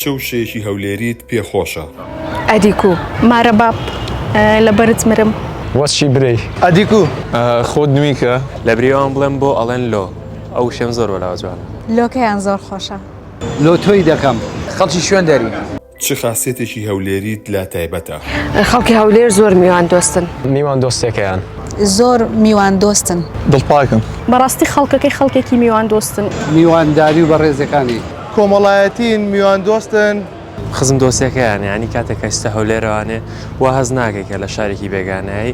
چ وشەیەکی هەولێریت پێ خۆشە؟ ئەدیکو مارە باب لە بەرت مرم. وەچی برێی ئەدیکو خۆت نویکە. لە برێوان بڵێم بۆ ئەڵێن لۆ؟ ئەو وشەم زۆر بەلاوە جوانە. لۆکەیان زۆر خۆشە. لۆ تۆی دەکەم. خەڵکی شوێن دەری. چ خاسیەتێکی هەولێریت لا تایبەتە؟ خەڵکی هەولێر زۆر میوان دۆستن. میوان دۆستێکەیان. زۆر میوان دۆستن. دڵپاکن. بەڕاستی خەڵکەکەی خەڵکێکی میوان دۆستن. میوان داری و بەڕێزەکانی. کۆمەڵایەتین، میواندۆستن. خزم دۆستەکەیانە، یانی کاتێک کە ئیستە هەولێرەوانێ وا هەست ناکەی کە لە شارێکی بێگانەی.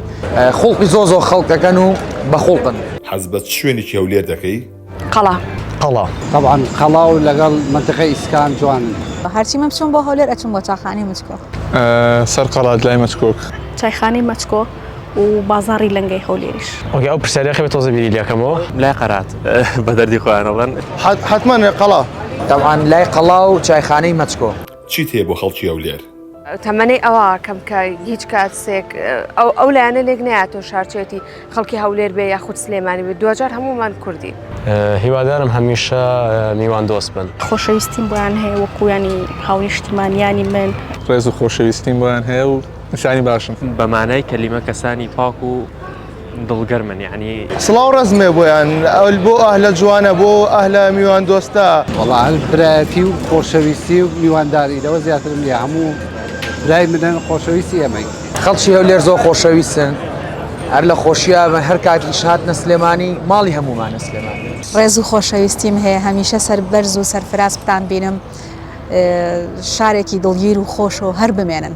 خوڵقی زۆر زۆر خەڵک ئەکەن و بە خوڵقن. حەز بە چ شوێنێکی هەولێر دەکەی؟ قەڵا. قەڵا. تەبعەن قەڵا و لەگەڵ مەنتیقەی ئیسکان جوانن. هەرچی من بچووم بۆ هەولێر ئەچووم بۆ چاخانەی مچکۆک. سەر قەڵات لای مەچکۆک. چایخانەی مەچکۆک. و بازاری لەنگەی هەولێریش. ئۆکەی ئەو پرسیارە یاخی بێ تۆزە بیری لێ کەمەوە. لای قەرات بە دەردی خۆیان ئەڵێن. حەتمەن لە قەڵا. تەبعەن لای قەڵا و چایخانەی مەچکۆ. چیت هەیە بۆ خەڵکی هەولێر؟ تەمەنی ئەوە کەم کە هیچ کاتسێک ئەو لایەنە لێک نەیاتۆ شارچێتی خەڵکی هەولێر بێ یاخود سلێمانی بێ دواجار هەموومان کوردین. هیوادارم هەمیشە میوان دۆست بن. خۆشەویستیم بۆیان هەیە وەکو یانی هاونیشتیمانیانی من. ڕێز و خۆشەویستیم بۆیان هەیە و. نیشانی باشن. بە مانای کەلیمە کەسانی پاک و دڵگەرمن یعنی. سڵاو ڕەزمێ بۆیان ئەول بۆ ئەهلە جوانە بۆ ئەهلە میوان دۆستە. وەڵا هەر برایەتی و خۆشەویستی و میوانداری لەوە زیاترم نیە هەموو برای منن خۆشەویستی ئێمەین. خەڵکی هەولێر زۆر خۆشەویستن هەر لە خۆشیا بن هەر کات ئیش هاتنە سلێمانی ماڵی هەموومانە سلێمانی. ڕێز و خۆشەویستیم هەیە هەمیشە سەربەرز و سەرفراز بتانبینم شارێکی دڵگیر و خۆش و هەر بمێنن.